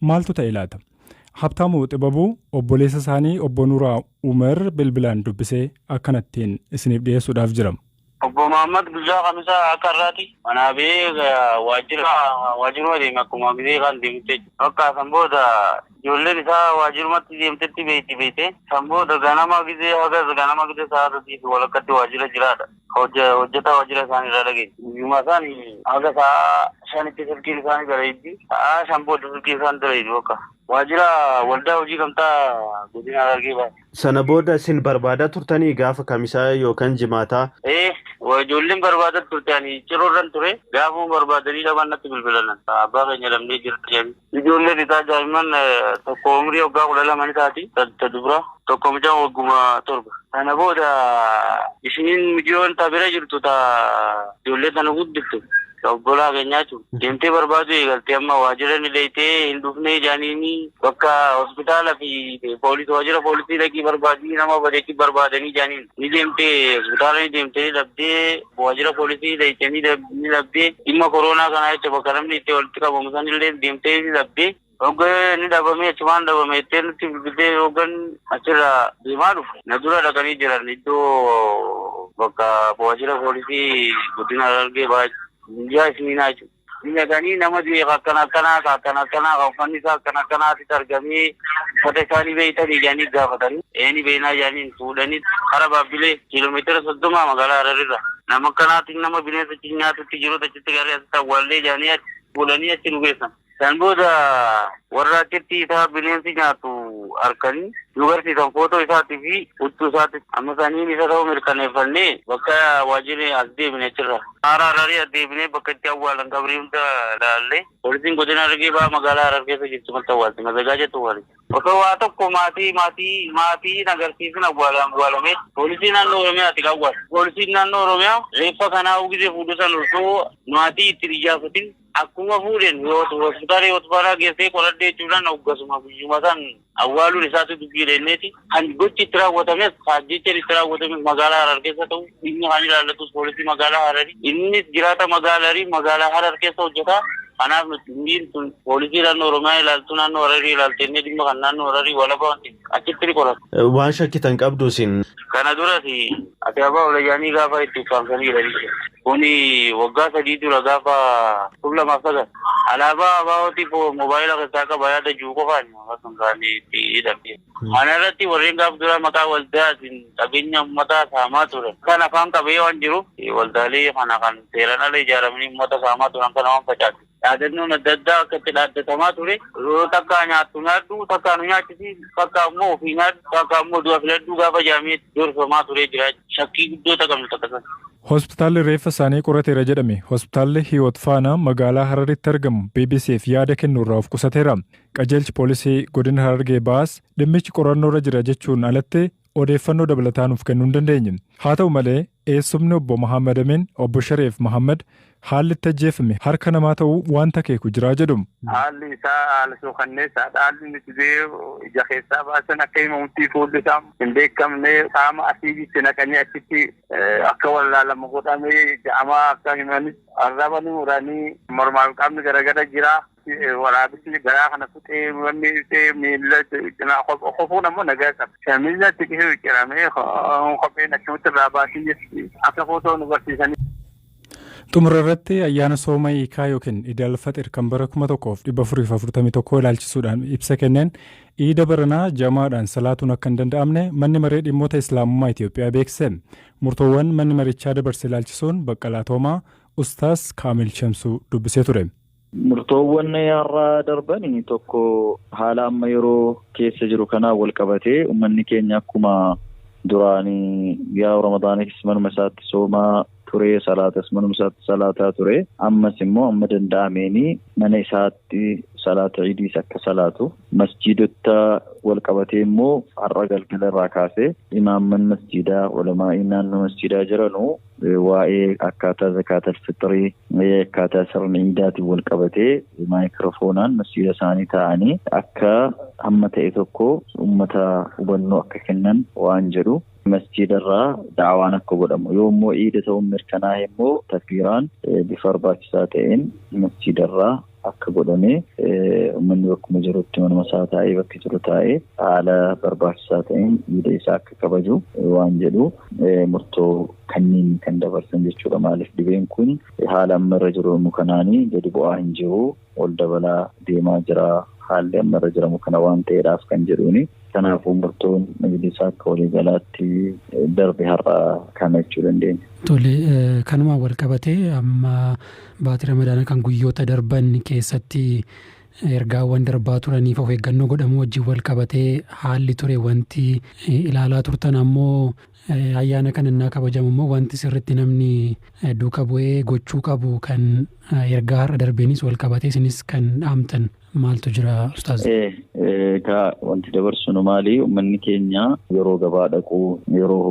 Maaltu ta'e laata? Habtaamu Xibabuu obboleessa isaanii obbo Nuuraa Umar bilbilaan dubbisee akkanattiin isiniif dhiyeessuudhaaf jira. Obbo Mahaammad guyyaa Kamisaa akka har'aati manaa ba'ee waajjira waajjiruma deeme akkuma gizee kaan deemutti jechuudha. Bakka san booda ijoolleen isaa waajjirumatti deemtetti beekti beekte. San booda ganama gizee hagas ganama gizee sa'a sadii fi walakkatti waajjira jiraadha. Hojjetaa waajjira isaanii irraa dhageenya. Guyyuma san haga sa'aa shanitti silkiin isaanii dalayddi. Sa'aa shan booda silkiin isaanii dalaydu bakka. Waajjira waldaa hojii gamtaa godina Harargee bahaa. Sana booda isin barbaadaa turtanii gaafa kamisaa yookaan jimaataa? Ee, ijoolleen barbaadaa turte ani ciroo irran ture. Gaafuma barbaadanii dhaban natti bilbilanan. Abbaa keenya dhabnee jirra jedhanii. Ijoolleen isaa daa'imman tokko umrii waggaa 12 ni taati, ta dubra, tokko mucaan wagguma 7. Sana booda ishiin mijiyoon ta bira jirtu ta ijoollee sana guddifte ta obbolaa keenyaa jechuudha deemtee barbaaduu eegalte amma waajjira ni dhayxee hin dhufnee jaaniini bakka hospitaala fi poolis waajjira poolisii dhaqii barbaadii nama badeechi barbaadanii jaaniin. ni deemtee hospitaala ni deemtee ni dhabdee waajjira poolisii dhayxee ni dhabdee dhimma koroonaa kanaa jecha bakka namni itti walitti qabamu san illee deemtee ni dhabdee hogga ni dhabamee achumaan dhabame jettee nutti bilbiltee hoggan achirraa deemaa dhufu na dura dhaqanii jiran iddoo bakka waajjira poolisii guddina Harargee bahaa miidiyaa isiniinaa jechuudha. Hin dhaqanii nama du'e ka akkana akkanaa ka akkana akkanaa ka uffanni isaa akkana akkanaa asitti argamee uffata isaa ni beektanii jedhanii gaafatanii ee ni beeknaa jedhaniin fuudhanii kara Baabbilee kiiloomeetira soddoma magaalaa Hararirra nama akkanaatiin nama bineensa achi nyaatutti jirutu achitti garee asitti awwaallee jedhanii achi fuudhanii achi nu geessan. San booda warra achitti isaa bineensi nyaatu arkanii nu garsiisan footoo isaatii fi huccuu isaatti amma saniin isa ta'uu mirkaneeffannee bakka waajjirri as deebine achirra. Haara Hararii addeebinee bakka itti awwaalan qabrii hunda laalle. Poolisiin Godina Harargee Bahaa magaalaa Harar keessa jirtu maltu awwaalti mazagaajatu wali. Osoo waa tokko maatii maatii maatii hin agarsiisin awwaala awwaalame. Poolisii naannoo Oromiyaati kan awwaale. Poolisiin naannoo Oromiyaa reeffa kana hawwisee fuudhu san osoo maatii itti hin iyyaafatin. Akkuma fuudhen hospitaala Hiwot Baaraa geessee qoradhe jechuudhaan hoggasuma guyyuma san awwaaluun isaatu dubbii dheenneeti. Kan gochi itti raawwatames ajjeechaan itti raawwatames magaalaa Harar keessa ta'u dhimmi kan ilaallatus poolisii magaalaa Harari. Innis jiraata magaala Harii magaalaa Harar keessa hojjeta. Kanaaf nuti dhimmiin sun poolisii naannoo Oromiyaa ilaaltu naannoo Hararii ilaalteennee dhimma kan naannoo Hararii walaba waan ta'eef achitti ni qorata. Waan shakkitan qabdu isin? Kana duras ati abbaa olayaanii gaafa itti ukkaamsaniidha jechuudha. Kuni waggaa sadii dura gaafa kum lamaaf sagal alaabaa ABOtiif moobaayila keessaa qaba yaada jiru qofaan kan kaan itti hidhame. Kana irratti warreen gaaf duraa maqaa waldaatiin qabeenya ummataa saamaa turan kan afaan qabee waan jiruuf waldaalee kana kan seeraan ala ijaaramanii ummata saamaa turan kana waan facaase. Dhaadannoon adda addaa akka itti dhaaddatamaa ture takkaa nyaattu nyaadhu takkaa nu nyaachisi takkaa immoo ofii nyaadhu takkaa immoo du'a filadhu gaafa jedhamee gorfamaa turee jira shakkii guddoo taqabnu takka sana. Hospitaalli reeffa isaanii qorateera jedhame Hospitaalli Hiwoot Faanaa magaalaa Hararitti argamu BBC'f yaada kennuurraa of qusateera. Qajeelchi poolisii godina Harargee Bahaas dhimmichi qorannoorra jira jechuun alatti odeeffannoo dabalataa nuuf kennuu hin dandeenye. Haa ta'u malee Eessumni Obbo Mahaammad Amiin, Obbo Shareef Mahaammad, haalli itti ajjeefame harka namaa ta'uu waanta akeeku jira jedhu. Haalli isaa haala suukanneessaadha. Haalli inni dhibee ija keessaa baasan akka himamutti fuulli isaa hin beekamne qaama asiidii itti naqanii achitti akka wallaalamu godhame jedhama akka himanitti. Arraba ni muranii mormaa fi qaamni garagara jira. Waraabessi garaa kana kutee wanni dhufee miila cinaa kofuun ammoo nagaa qaba. Miila xiqisuu ciramee kopheen akkamitti irraa baasii akka footoo nu barsiisanii. Xumura irratti ayyaana sooma hiikaa yookiin Idal Faxir kan bara 1441 ilaalchisuudhaan ibsa kenneen iida baranaa jamaadhaan salaatuun akka hin danda'amne manni maree dhimmoota Islaamummaa Itoophiyaa beeksise. Murtoowwan manni marichaa dabarse ilaalchisuun Baqqalaa Toomaa Ustaas Kaamil Shamsuu dubbisee ture. Murtoowwan har'a darban tokko haala amma yeroo keessa jiru kanaan wal qabatee uummanni keenya akkuma duraan yaa ramadaaniis manuma isaatti soomaa ture salaatas manuma isaatti salaataa ture ammas immoo amma danda'ameen mana isaatti salaata idiis akka salaatu masjiidota wal qabatee immoo har'a galgala irraa kaasee imaamman masjiidaa ulamaa'iin naannoo masjiidaa jiranu Waa'ee akkaataa Zakaatal Fixrii, akkaataa sirna Iidaatiin wal qabatee maayikiroofoonaan masjiida isaanii taa'anii akka hamma ta'e tokko ummata hubannoo akka kennan waan jedhu masjiida irraa da'awaan akka godhamu yoo immoo Iida ta'uun mirkanaa'e immoo takbiiraan bifa barbaachisaa ta'een masjiida irraa akka godhame ummanni bakkuma jirutti manuma isaa taa'ee bakki jiru taa'ee haala barbaachisaa ta'een iida isaa akka kabaju waan jedhu murtoo kanniin kan dabarsan jechuudha maaliif dhibeen kun haala amma irra jiru immoo kanaanii gadi bu'aa hin jiru ol dabalaa deemaa jira haalli amma irra jiramu kana waan ta'eedhaaf kan jedhuuni. Kanaafuu murtoon majlisaa akka waliigalaatti darbe har'a kana jechuu dandeenya. Tole, kanumaan walqabatee amma baatii Ramadaanaa kan guyyoota darban keessatti ergaawwan darbaa turaniif of eeggannoo godhamuu wajjin walqabatee haalli ture wanti ilaalaa turtan ammoo Ayyaana kana innaa kabajamu immoo wanti sirriitti namni duuka bu'ee gochuu qabu kan ergaa har'a darbeenis wal qabatee isinis kan dhaamtan maaltu jira ustaaz? Egaa wanti dabarsinu maali uummanni keenya yeroo gabaa dhaqu yeroo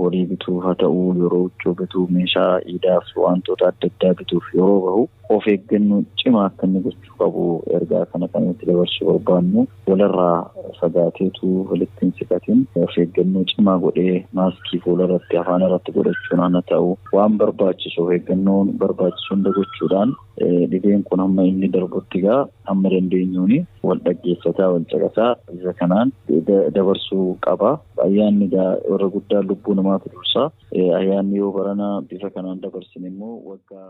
horii bituuf haa ta'u yeroo huccuu bituu meeshaa iidaaf wantoota adda addaa bituuf yeroo bahu of eeggannoo cimaa akka inni gochuu qabu ergaa kana kan itti dabarsuu barbaannu. Walirraa fagaateetu walitti hin siqatin. Of eeggannoo cimaa godhee maaskii fuularratti, afaanirratti godhachuun hana ta'u waan barbaachisu of eeggannoo barbaachisu hunda gochuudhaan dhibeen kun hamma inni darbutti egaa hamma dandeenyuun wal dhaggeeffataa, wal caqasaa isa kanaan dabarsuu qaba. Ayyaanni egaa warra guddaan lubbuu namaatu dursa. Ayyaanni yoo barana bifa kanaan dabarsine immoo waggaa.